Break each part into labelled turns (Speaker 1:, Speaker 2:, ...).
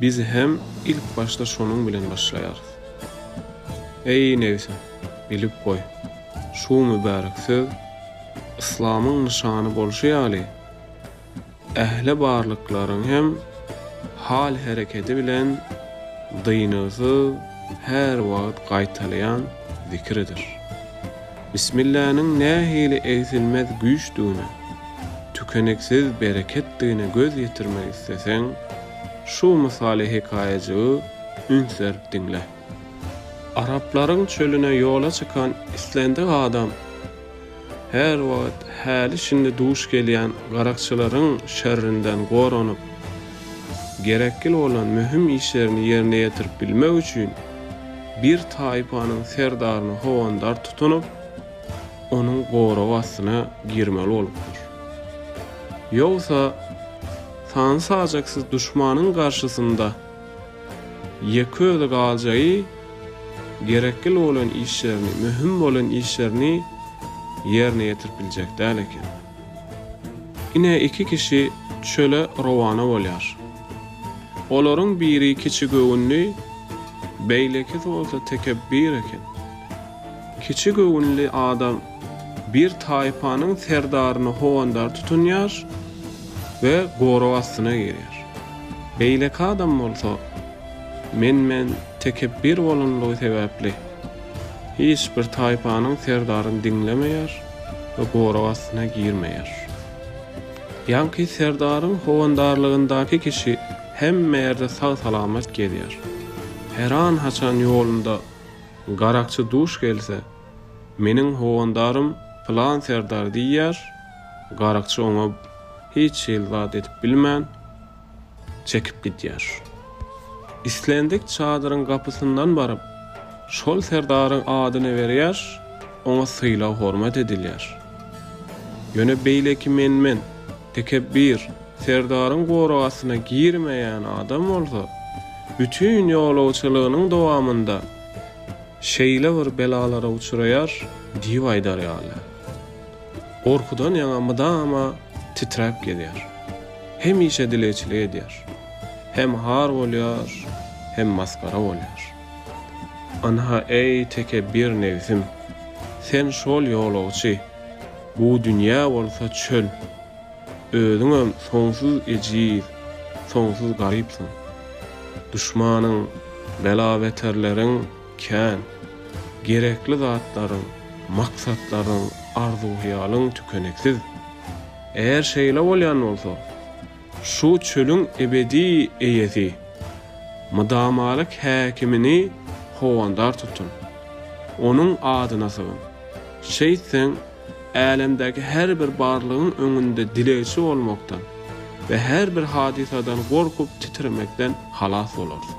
Speaker 1: Biz hem ilk başda şonuň bilen başlaýarys. Eý, nebsim, bilip goý, şu mübärek söz yslamyň nyşany bolşy ýaly, ähli barlyklaryň hem hal-hereketi bilen dyngysyz her wagt gaýtalaýan zikiridir. Bismilläniň nähili egsilmez güýçdigine, tükeniksiz bereketdigine göz ýetirmek isleseň, şu mysaly hekaýajygy üns berip diňle. Araplaryň çölüne ýola çykan islendik adam her wagt häli-şindi duş gelýän garakçylaryň şerrinden goranyp, Gerekli bolan möhüm işlerini ýerine ýetirip bilmek üçin bir taýpanyň serdaryny howandar tutunyp, onuň goragy astyna girmeli bolupdyr. Ýogsa, sany-sajaksyz duşmanyň garşysynda ýeke özi galjagy gerekli bolan işlerini, möhüm bolan işlerini ýerine ýetirip biljek däl eken. Ine iki kişi çöle rowana bolýar. Olaryň biri kiçi göwünli, beýlekisi bolsa tekepbir eken. Kiçi göwünli adam bir taýpanyň serdaryny howandar tutunýar we gorag astyna girýär. Beýleki adam bolsa men-men tekepbir bolanlygy sebäpli. Hiç bir taýpanyň serdaryny diňlemeýär we gorag astyna girmeýär. Ýaňky serdaryň howandarlygyndaky kişi hemme ýerde sag-salamat gezýär. Heran-haçan ýolunda garakçy duş gelse, Meniň howandarym pylan serdar diýýär, garakçy oňa hiç hili zat edip bilmän, çekip gidýär. Islendik çadyryň gapysyndan baryp, şol serdaryň adyny berýär, oňa sylag-hormat edilýär. Ýöne beýleki menmen, tekepbir serdaryň goragasyna girmeýän adam bolsa, bütin ýolagçylygynyň dowamynda şeýle bir belalara uçraýar diýip aýdar ýaly. Gorkudan ýaňa mydama titräp gezýär. Hemişe dilegçilik edýär. Hem har bolýar, hem masgara bolýar. Ynha, eý, tekebir nebsim, sen şol ýolagçy, bu dünýä bolsa çöl. Özüňem soňsuz ejiz, soňsuz garypsyň. Duşmanyň, bela-beterleriň. Kän. Gerekli zatlaryň, maksatlaryň, arzuw-hyýalyň tükeniksiz. Eger şeýle bolýan bolsa, şu çölüň ebedi eýesi, mydamalyk häkimini howandar tutun. Onuň adyna sygyň. Şeýtseň, älemdäki her bir barlygyň öňünde dilegçi bolmakdan we her bir hadysadan gorkup titremekden halas bolarsyň.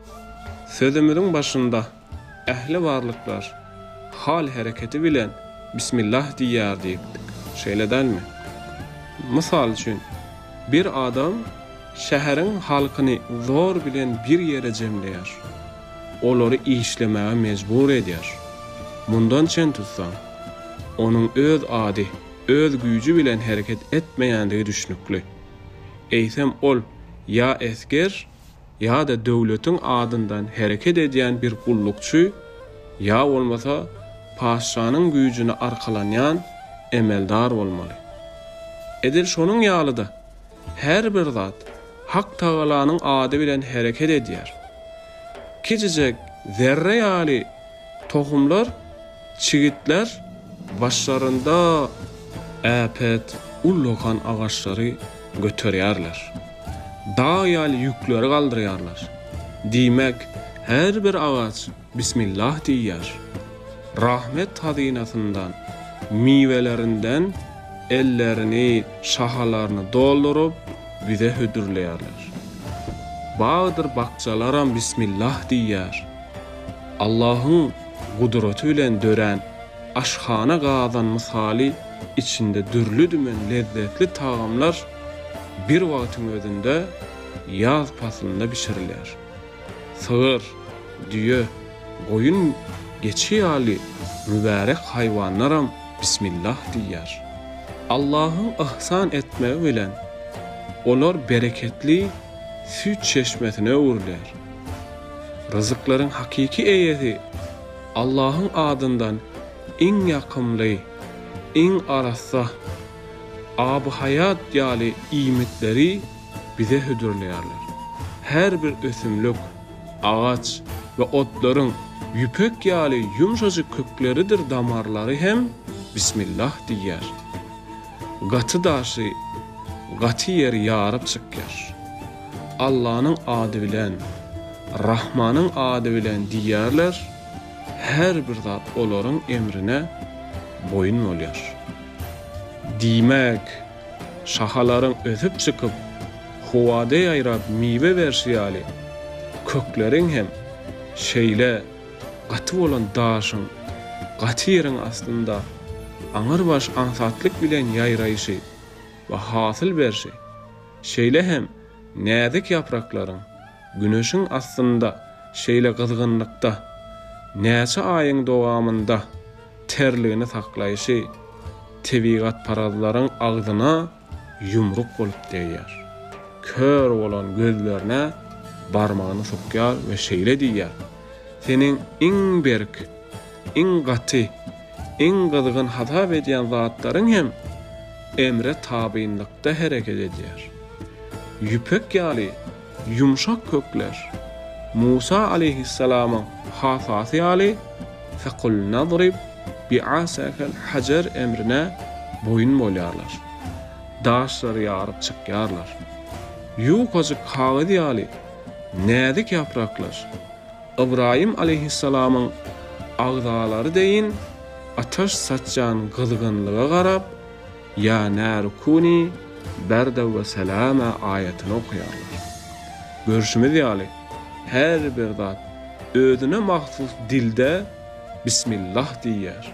Speaker 1: Sözümiziň başynda ähli barlyklar hal-hereketi bilen Bismillah diýýär diýipdik, şeýle dälmi? Mysal üçin, bir adam şäheriň halkyny zor bilen bir ýere jemleýär, olary işlemäge mejbur edýär. Mundan çen tutsaň, onuň öz ady, öz güýji bilen hereket etmeýändigi düşnükli. Eýsem ol ýa esger, ýa-da döwletiň adyndan hereket edýän bir gullukçy ýa bolmasa patyşanyň güýjüne arkalanýan emeldar bolmaly. Edil şonuň ýaly-da, her bir zat Hak Tagalanyň ady bilen hereket edýär. Kiçijek zerre ýaly tohumlar Çigitler başlarynda äpet ullakan agaçlary göterýärler. Dag ýaly ýükleri galdyrýarlar. Diýmek, her bir agaç Bismillah diýýär. Rahmet hazynasyndan, miwelerinden ellerini, şahalaryny dolduryp, bize hödürleýärler. Bagdyr bakjalaram Bismillah diýýär. Allahyň gudraty bilen dörän aşhana gazan mysaly içinde dürli-dümen lezzetli tagamlar bir wagtyň özünde ýaz paslynda bişirilýär. Sygyr, düýe, goýun, geçi ýaly mübärek haýwanlaram Bismillah diýýär. Allahyň yhsan etmegi bilen olar bereketli süýt çeşmesine öwrüler. Ryzyklaryň hakyky eýesi Allahyň adyndan iň ýakymly, iň arassa, abyhaýat ýaly iýmitleri bize hödürleýärler. Her bir ösümlik, agaç we otlaryň ýüpek ýaly ýumşajyk kökleridir damarlary hem Bismillah diýýär. Gaty daşy gaty ýeri ýaryp çykýar. Allanyň ady bilen, Rahmanyň ady bilen diýýärler, her bir zat olaryň emrine boýun bolýar. Diýmek, şahalaryň ösüp çykyp, howada ýaýrap miwe berşi ýaly, kökleriň hem şeýle Gaty bolan daşyň, gaty ýeriň astynda aňyrbaş aňsatlyk bilen ýaýraýşy we hasyl berşi, şeýle hem näzik ýapraklaryň güneşiň astynda şeýle gyzgynlykda näçe aýyň dowamynda terligini saklaýşy tebigatparazlaryň agzyna ýumruk bolup degýär. Kör bolan gözlerine barmagyny sokýar we şeýle diýýär, Seniň iň berk, iň gaty, iň gyzgyn hasap edýän zatlaryň hem emre tabynlykda hereket edýär. Ýüpek ýaly Ýumşak kökler, Musa aleýhissalamyň hasasy ýaly, Fekul nadrib bi'asakel hajar emrine boýun bolýarlar. Daşlary ýaryp çykýarlar. Ýukajyk kagyz ýaly näzik ýapraklar, Ybraýym aleýhissalamyň agzalary deýin ataş saçýan gyzgynlyga garap, Ýa nâru kûnî berden we selâmâ aýatyny okaýarlar. Görşümiz ýaly, her bir zat özüne mahsus dilde Bismillah diýýär.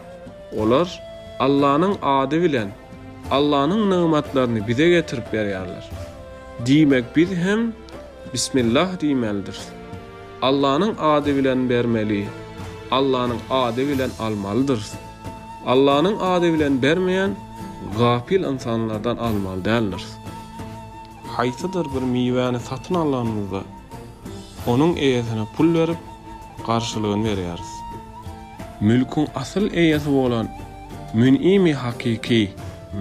Speaker 1: Olar Allanyň ady bilen Allanyň nygmatlaryny bize getirip berýärler. Diýmek biz hem Bismillah diýmelidiris. Allanyň ady bilen bermeli, Allanyň ady bilen almalydyrys. Allanyň ady bilen bermeýän gapyl ynsanlardan almaly däldiris. Haýsydyr bir miwäni satyn alanymyzda, onuň eýesine pul berip, garşylygyny berýäris. Mülküň asyl eýesi bolan Mün'imi hakyky,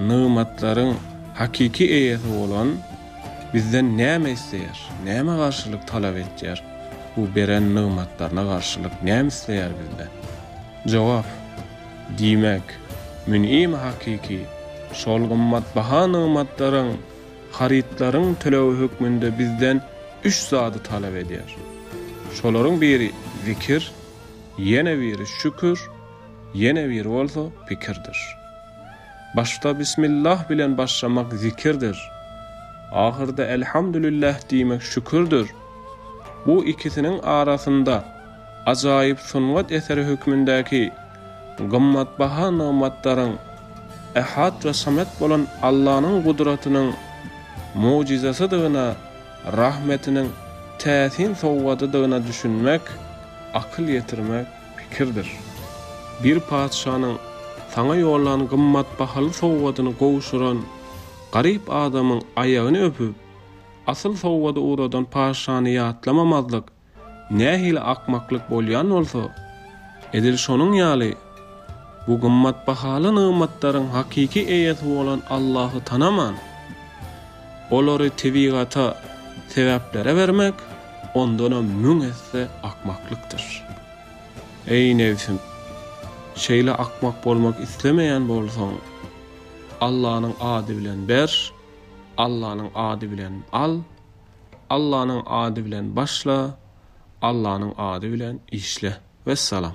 Speaker 1: nygmatlaryň hakyky eýesi bolan, Bizden näme isleýär? Nämä garşylyk talap etýär? Bu beren nygmatlaryna garşylyk näme isleýär bizden? Jogap, Diýmek, Mün'im hakyky şol gymmatbaha nygmatlaryň, harytlaryň tölegi hökmünde bizden üç zady talap edýär. Şolaryň biri zikir, ýene biri şükür, ýene biri bolsa pikirdir. Başda Bismillah bilen başlamak zikirdir. Ahyrda Elhamdülillah diýmek şükürdir. Bu ikisiniň arasynda ajaýyp sungat eseri hökmündäki gymmatbaha nygmatlaryň Ehad we Somet bolan Allanyň gudratynyň mojyzasydygyna, rahmetiniň täsin sowgadydygyna düşünmek, akyl ýetirmek, Pikirdir. Bir patyşanyň saňa ýollan gymmat bahaly sowgadyny gowşuran garyp adamyň aýagyny öpüp, asyl sowgady ugradan patyşany ýatlamamazlyk nähili akmaklyk bolýan bolsa, edil şonuň ýaly, bu gymmat bahaly nygmatlaryň hakyky eýesi bolan Allahy tanaman, Olary tebigata, sebäplere bermek ondanam müň esse akmaklykdyr. Eý, nebsim! Şeýle akmak bolmak islemeýän bolsaň, Allanyň ady bilen ber, Allanyň ady bilen al, Allanyň ady bilen başla, Allanyň ady bilen işle. Wessalam!